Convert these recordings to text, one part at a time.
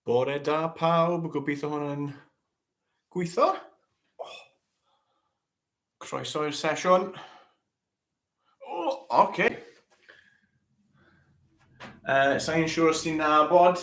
Bore da pawb, gobeithio hwn yn gweithio. Oh. Croeso i'r sesiwn. O, oh, oce. Okay. Uh, Sa'n i'n siŵr os ti'n nabod,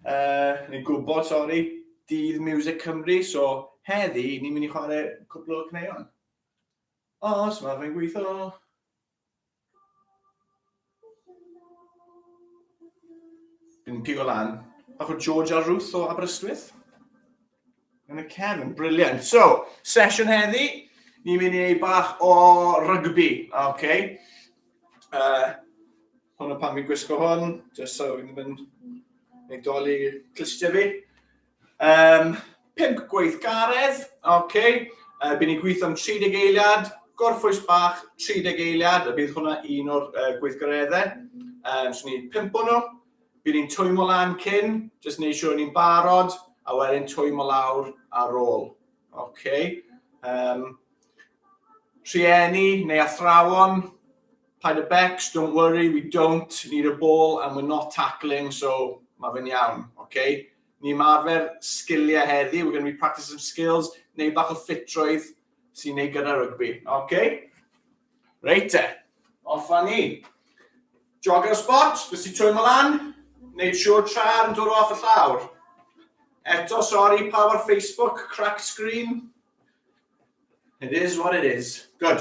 uh, neu gwybod, sori, dydd Music Cymru, so heddi ni'n mynd i chwarae cwpl o cneuon. Os mae fe'n gweithio. Yn pigo lan. Bach o George a Ruth o Aberystwyth. Yn y cefn, briliant. So, sesiwn heddi, ni'n mynd i wneud bach o rygbi, oce? Okay? Uh, hwn o pan fi'n gwisgo hwn, jyst so fi'n mynd i dolli clystiau fi. Um, pimp gweithgaredd, oce. Okay. Uh, Bydd ni'n gweithio am 30 eiliad, gorffwys bach 30 eiliad, a bydd hwnna un o'r uh, gweithgareddau. Um, so ni'n pimp nhw, bydd ni'n twymo lan cyn, jyst wneud siŵr ni'n barod, a wedyn twymo lawr ar ôl. Okay. Um, rhieni neu athrawon, Paid â becs, don't worry, we don't need a ball and we're not tackling, so mae fe'n iawn, oce? Okay? Ni mae arfer sgiliau heddi, we're going to be practicing some skills, neu bach o ffitrwydd sy'n ei gyda rygbi, oce? Okay? Reit te, off a ni. Jog ar y spot, fes i trwy mlaen, neud siwr tra'r yn dod off y llawr. Eto, sorry, pa o'r Facebook, crack screen. It is what it is. Good.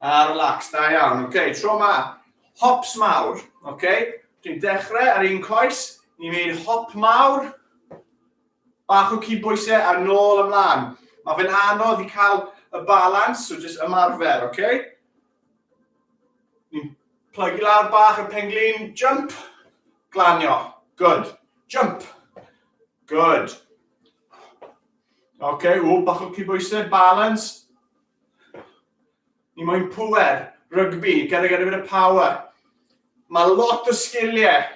A relax, da iawn. Ok, tro ma. Hops mawr. Ok, dwi'n dechrau ar un coes. Ni'n mynd hop mawr. Bach o cydbwysau a nôl ymlaen. Mae fe'n anodd i cael y balans, so jyst ymarfer, ok? Ni'n plygu lawr bach y penglin, jump, glanio, good, jump, good. Ok, ww, bach o cybwysau, balance, Ni moyn pŵer, rygbi, gyda gyda bit of power. Mae lot o sgiliau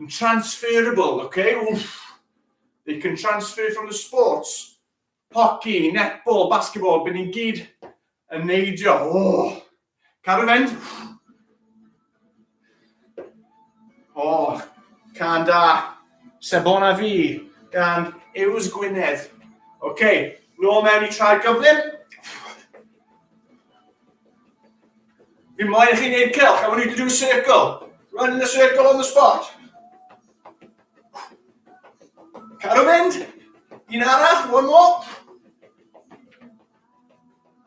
yn transferable, okay? Wff. They can transfer from the sports. Hockey, netball, basketball, byd ni'n gyd yn neidio. Oh. Cadw fynd. O, oh, can da. Sebon a fi, gan Ews Gwynedd. Oce, okay, nôl mewn i traed gyflym. Fi moyn i chi wneud cylch, I want you to do a circle. Run in a circle on the spot. Cadw fynd. Un arall, one more.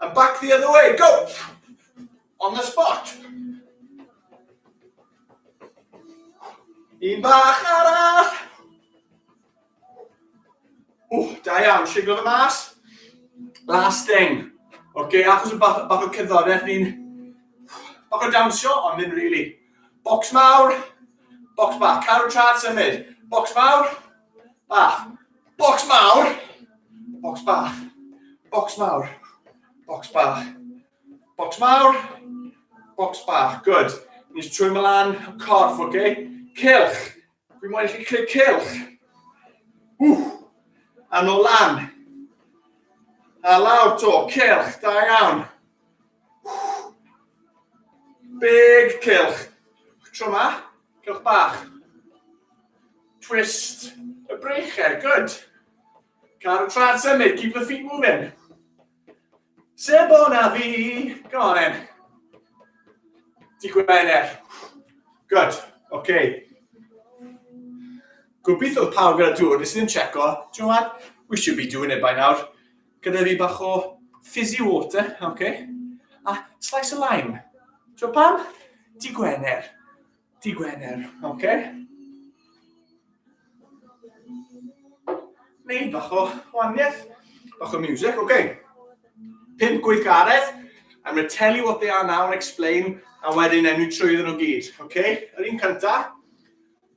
And back the other way, go! On the spot. Un bach arall. Ww, da iawn, siglo fe mas. Last thing. Oce, okay, achos y bach, bach o cyddoriaeth ni'n... Bach o dawnsio, ond ddim really. Box mawr, box bach. Carw trad symud. Box mawr, bach. Bocs mawr, bocs bach, bocs mawr, bocs bach, bocs mawr, bocs bach, good. Ni'n trwy mlaen y corff, oce? Okay? Cilch, fi'n mwyn i chi creu cilch. Ww, a nôl lan. A lawr to, cilch, da iawn. Big cylch. Tro ma, cylch bach. Twist y breichau, good. Cadw tra'n symud, keep the feet moving. Sef o na fi, go on then. Di Gwener. Good, oce. Okay. Gobeithio pawb gyda dŵr, nes i'n checo. Do you know what? We should be doing it by now. Gyda fi bach o fizzy water, oce. Okay. A slice o lime. Ti'n pam? Di Gwener. Di Gwener, oce. Okay. Neu bach o waniaeth, bach o music, oce. Okay. Pimp gweithgaredd, I'm going to tell you what they are now and explain, a wedyn enw trwy iddyn nhw gyd, oce? Okay? Yr un cyntaf,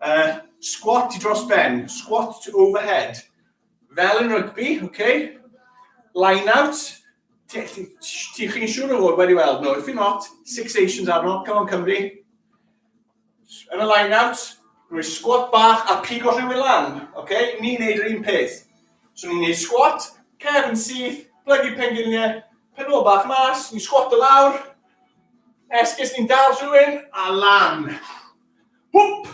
uh, squat i dros ben, squat to overhead, Fel yn rygbi, oce. Okay. Line-out. Ti chi'n siŵr o fod wedi weld nhw. If you're not, Six Nations arno. Come on, Cymru. Yn y line-out, rwy'n squat bach a pigo rhywun lan. Oce? Okay? Ni'n neud yr un peth. So ni'n neud squat, cef yn syth, blygu pengiliau, penol bach mas, ni'n squat y lawr, esgus ni'n dal rhywun, a lan. Hwp!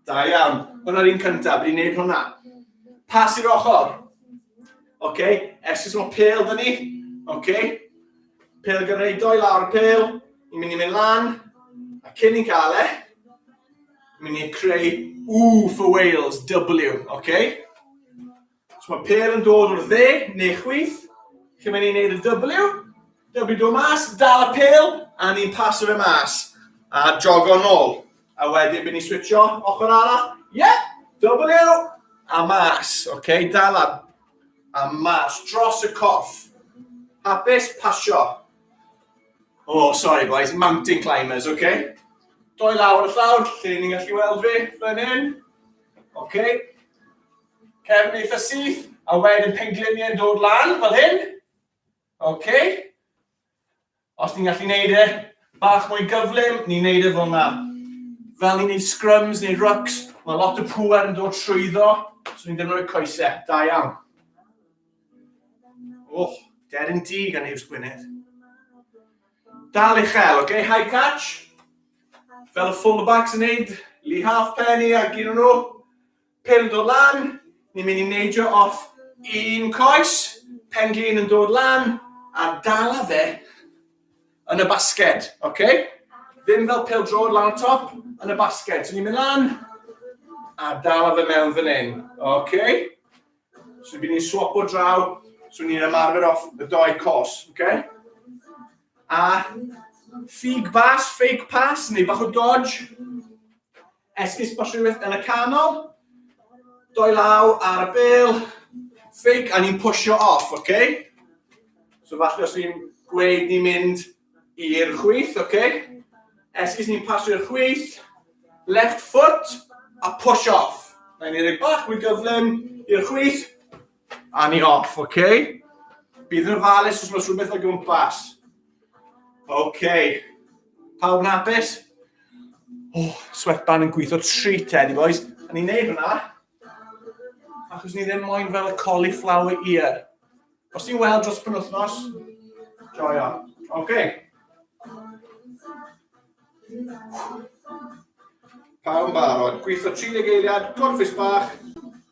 Da iawn. Hwna'r un cyntaf, fi'n neud hwnna. Pas i'r ochr. Oce, okay. esgus o'n pel dyn ni. Oce. Okay. Pel gyda ni doi lawr y pel. Ni'n mynd i mynd lan. A cyn i'n cael e, mynd i creu U for Wales, W, oce? Okay? Os mae pêl yn dod o'r dde neu chwith, chi'n mynd i wneud y W, W do mas, dal y pêl, a ni'n pasio fe mas, a jogo nôl. A wedyn bydd ni'n switcho ochr arall, ie, yeah, W, a mas, oce, okay, dal a, a mas, dros y coff. Hapus, pasio. Oh, sorry boys, mountain climbers, oce? Okay? Doi lawr y llawr, lle ni'n gallu weld fi, fan hyn. Oce? Okay? Cefn eitha syth, a wedyn pengliniau'n dod lan fel hyn. OK. Os ni'n gallu neud e bach mwy gyflym, ni'n neud e fel yna. Fel ni'n neud scrums neu rucks, mae lot o pŵer yn dod trwyddo, so ni'n defnyddio coesau. Da iawn. Oh, dead yn di gan Hughes Gwynedd. Dal i chael, OK? High catch. Fel y fullbacks yn neud, Lee Halfpenny a gyd o'n nhw. Pêl yn dod lan, ni'n mynd i neidio off un coes, pen-glin yn dod lan, a dala fe yn y basged, oce? Ddim fel pêl drod lan y top, yn y basged. So ni'n mynd lan, a dala fe mewn fan hyn, oce? So bydd ni'n swap o draw, so ni'n ymarfer off y doi cos, oce? A ffug bas, fake pass, neu bach o dodge, Esgus bach rhywbeth yn y canol. Doi law ar y bel. Ffig, a ni'n pwysio off, oce? Okay? So falle os fi'n gweud ni'n mynd i'r chwith, oce? Okay? Esgus ni'n pasio i'r chwith. Left foot, a push off. Mae'n ei roi bach mwy gyflym i'r chwith. A ni off, oce? Okay? Bydd yn ofalus os mae rhywbeth o gwmpas. Oce. Okay. Pawb yn hapus? Oh, sweatband yn gweithio treat eddi, boys. A ni'n neud hwnna, achos ni ddim moyn fel y cauliflower ear. Os ti'n weld dros penwthnos, joio. Oce. Okay. Pawb yn barod. Gweithio 30 eiliad, gorffus bach,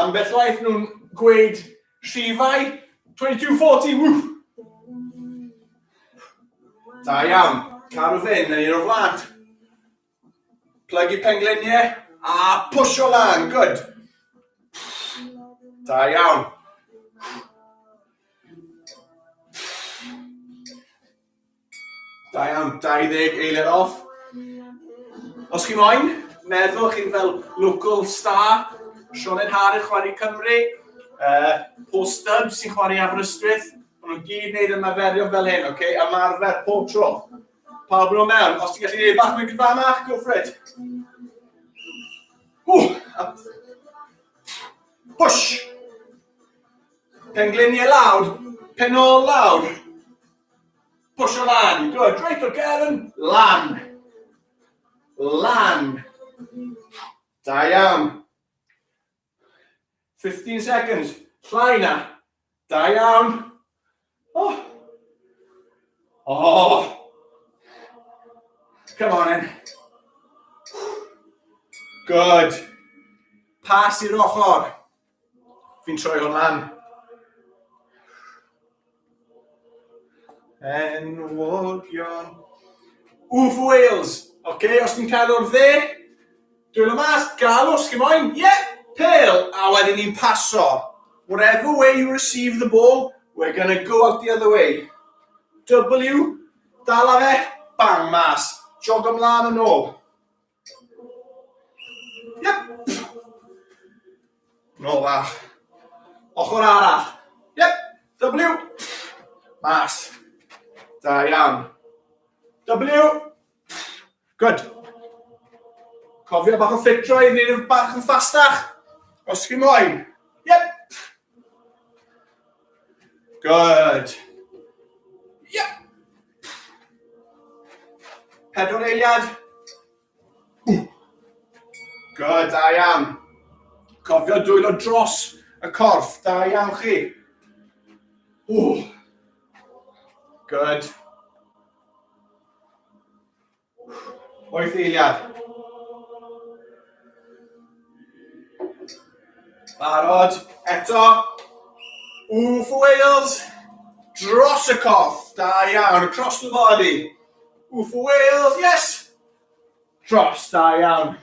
Ambell waith nhw'n gweud rhifau 2240, wff! Da iawn, caru fe'n yn un o flaen. Plygu pengliniau a pwysio lan, good. Da iawn. Da iawn, 20 eiliad off. Os chi moyn, meddwl chi'n fel local star, Sionen Har yn chwarae Cymru, uh, Paul Stubbs sy'n chwarae Aberystwyth, maen nhw'n gyd wneud ymarferio fel hyn, oce? Okay? Ymarfer pob tro. Pawb yn o mewn, os ti'n gallu gwneud bach mwy gyfanach, go for it. Ww! Push! Pengliniau lawr, penol lawr, Pwysio lan, you good, reit o gefn, lan, lan, da iawn, 15 seconds, llai na, da iawn, oh, oh, come on in, good, pas i'r ochr, Fi'n troi hwn lan. Enwogion. Wf Wales. Oce, okay, os ti'n cael o'r dde, dwi'n y mas, gael os chi moyn. Ie, yeah, pel. A wedyn ni'n paso. Whatever way you receive the ball, we're going to go out the other way. W, dala fe, bang, mas. Jog ymlaen yn ôl. Nôl fa. Ochr arall. Yep. W. Mas. Da iawn. W. Good. Cofio bach o ffitro i wneud yn bach yn ffastach. Os chi moyn. Yep. Good. Yeah. Pedwar eiliad. Good, da iawn. Cofio dwylo dros y corff, da iawn chi. Ooh. Good. Wyth eiliad. Barod, eto. Ooh for Wales. Dros y coff. Da iawn, across the body. Ooh for Wales, yes. Dros, da iawn.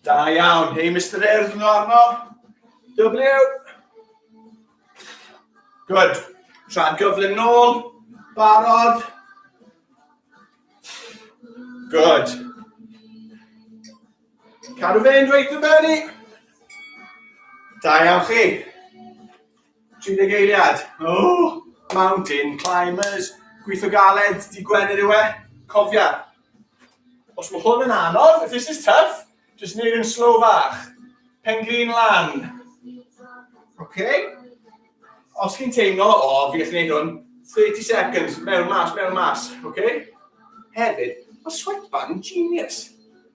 Da iawn. Hei, Mr Urdd, nhw arno. W. Good. Tra'n gyflym nôl. Barod. Good. Cadw fe'n dweud y benni. Da iawn chi. Trin dy geiriad! Ooh! Mountain climbers! Gweithio galed, dydd Gwener yw e, cofia! Os mae hwn yn anodd, if this is tough, just neud yn slow fach. Pen glin lan. Okay? Os chi'n teimlo, o, oh, fi gallu neud hwn, 30 seconds, mewn mas, mewn mas, okay? Hefyd, mae sweatband yn genius.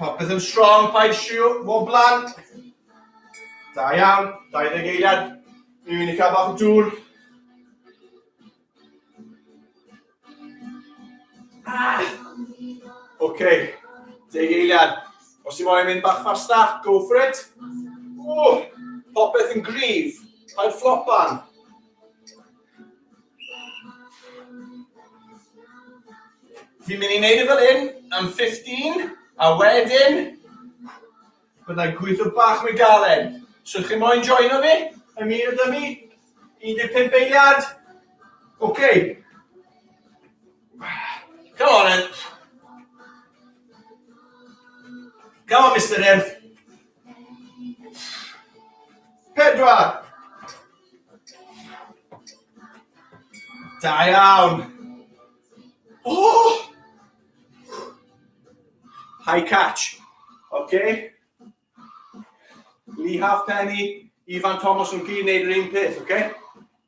Popeth yn strong, paid siw, mor blant. Da iawn, 20 eiliad. Mi fi'n i cael bach o dŵr. Ah! Oce, okay. deg eiliad. Os ti moyn mynd bach fasta, go for it. Ww, popeth yn gryf, paid flopan. Fi'n mynd i wneud e fel hyn am 15, a wedyn byddai gweithio bach mwy galed. So chi moyn joino fi? Ymuno da mi? 15 eiliad? Ok. Come on then. Come on, Mister Earth. Pedwar. Da iawn. Oh! High catch. Okay. Lee Halfpenny, Ifan Thomas yn gyd wneud yr un peth, okay?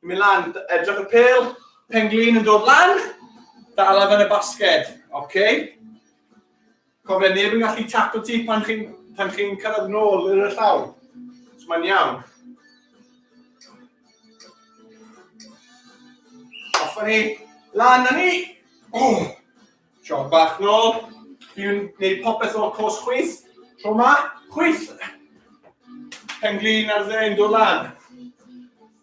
Yn mynd lan, edrych y pel, penglin yn dod lan, dal ar y basged, okay? Cofia, neb yn gallu tato ti pan chi'n pan chi'n cyrraedd nôl i'r llaw. So mae'n iawn. Off ni. Lan ni. Oh. Siog bach nôl. Dwi'n gwneud popeth o'r cwrs chwith. Tro ma, chwith. Penglin ar dde'n dod lan.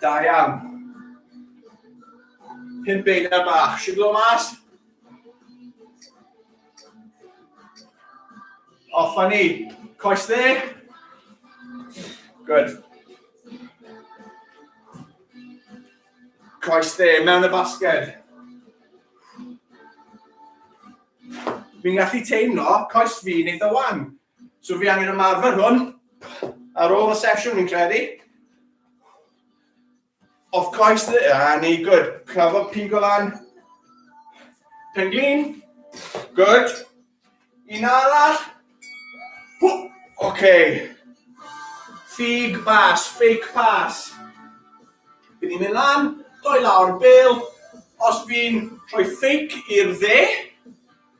Da iawn. Pum beina bach. Siglo mas. Off a ni. Coes dde. Good. Coes dde, mewn y basged. Fi'n gallu teimlo coes fi'n eitha wan. So fi angen ymarfer hwn ar ôl y sesiwn fi'n credu. Of course, ah, ni, good. Clafo pigo lan. Penglin. Good. Un arall. Oce. Okay. Fig bas, fake pass. Bydd ni'n mynd lan, doi lawr bel. Os fi'n rhoi fake i'r dde,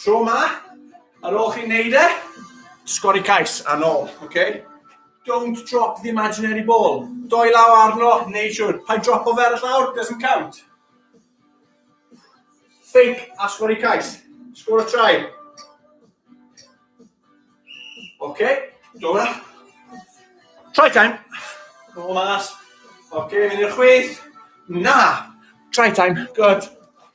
Tro ma, ar ôl chi'n neud e, sgori cais a nôl, oce? Okay? Don't drop the imaginary ball. Doi law arno, neud siwr. Pa drop o fer y llawr, doesn't count. Fake a sgori cais. Sgwr o trai. Oce, okay. do na. Try time. Nôl mas. Oce, okay, mynd i'r chwith. Na. Try time. Good.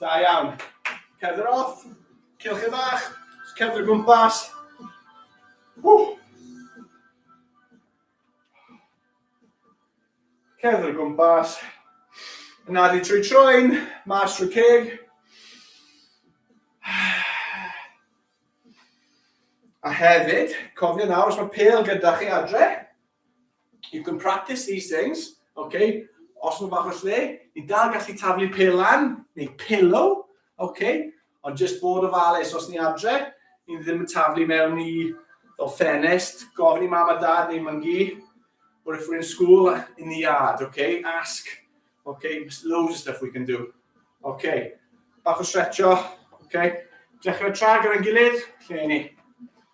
Da iawn. Cerdd yr off. Cewch chi fach. Cerdd yr gwmpas. Cerdd yr gwmpas. Yna di trwy troen, mas trwy ceg. A hefyd, cofio nawr, os mae pel gyda chi adre, You can practice these things, okay? Os mae bach o lle, ni'n dal gallu taflu pel lan, neu pillow, okay? Ond just bod o ofalus os ni adre, ni ddim yn taflu mewn i o ffenest, gofyn i mam a dad neu myngu, or if we're in school, in the yard, okay? Ask, okay? There's loads of stuff we can do. Okay, bach o stretcho, okay? Dechrau tra gyda'n gilydd, lle ni.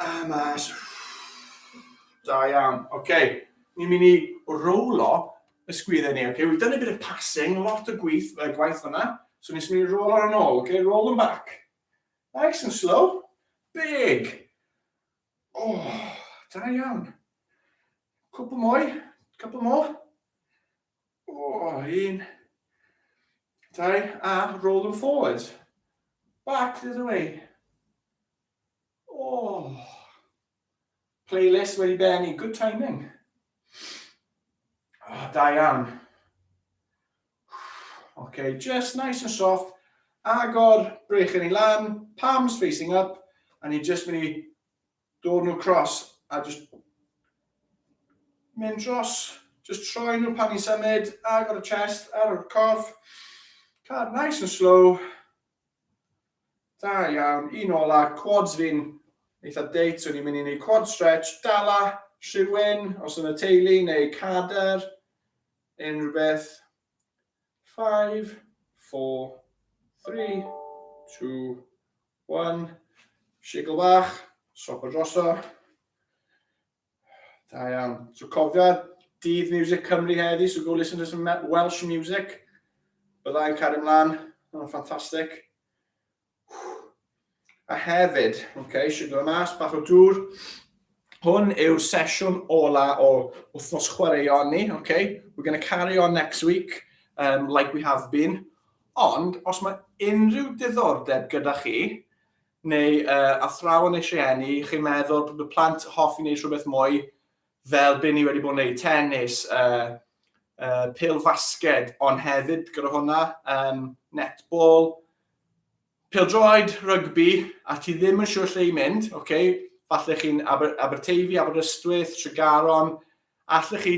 A mas. Da iawn. Oce. Okay. Ni'n mynd i rowlo y sgwydde ni. Oce. Okay. We've done a bit of passing. Lot o gwyth, uh, gwaith fyna. So ni'n mynd i rowlo yn ôl. Oce. Okay. Roll them back. Nice and slow. Big. Oh, da iawn. Cwpl mwy. Cwpl mwy. Oh, un. Dau. A roll them forwards. Back the other way. Oh, playlist wedi benni, good timing. Oh, da iawn. Okay, just nice and soft. Agor, brech yn ei lan, palms facing up, a ni just mynd i dod nhw cross a just mynd dros, just troi nhw pan ni'n symud, agor y chest, ar y corff, card nice and slow, Da iawn, un ola, quads fi'n eitha date, so ni'n mynd i neud quad stretch, dala, rhywun, os yn y teulu, neu cader, unrhyw beth. 5, 4, 3, 2, 1, shigl bach, sopo droso. Da iawn. So cofia, dydd Music Cymru heddi, so go listen to some Welsh music. Byddai'n cario mlaen, mae'n ffantastig. A hefyd, oce, okay, siwgr y mas, bach o dŵr. Hwn yw'r sesiwn ola o wythnos chwaraeon ni, oce? Okay? We're going to carry on next week, um, like we have been. Ond, os mae unrhyw diddordeb gyda chi, neu uh, athrawon eisiau enni, chi'n meddwl bod y plant hoffi wneud rhywbeth mwy, fel byn ni wedi bod yn gwneud tennis, uh, uh, pil fasged, ond hefyd gyda hwnna, um, netball, pil droed, rygbi, a ti ddim yn siŵr lle i mynd, okay? falle chi'n Aber Aberteifi, Aberystwyth, Tregaron, Allwch chi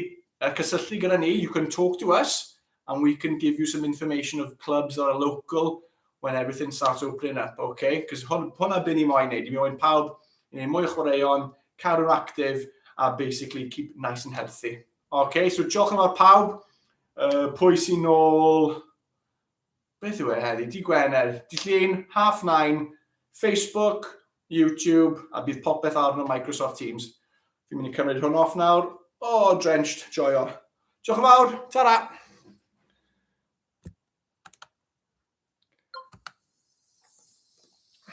cysylltu gyda ni, you can talk to us, and we can give you some information of clubs that are local when everything starts opening up, okay? Because hwn, hwnna byn ni moyn neud, i mi moyn pawb i neud mwy o chwaraeon, cadw'n actif, a basically keep nice and healthy. Okay, so diolch yn fawr pawb, uh, pwy sy'n ôl beth yw e heddi, di Gwener, di Llun, Half Nine, Facebook, YouTube, a bydd popeth arno Microsoft Teams. Fi'n mynd i cymryd hwn off nawr. O, oh, drenched, joio. Diolch yn fawr, ta-ra!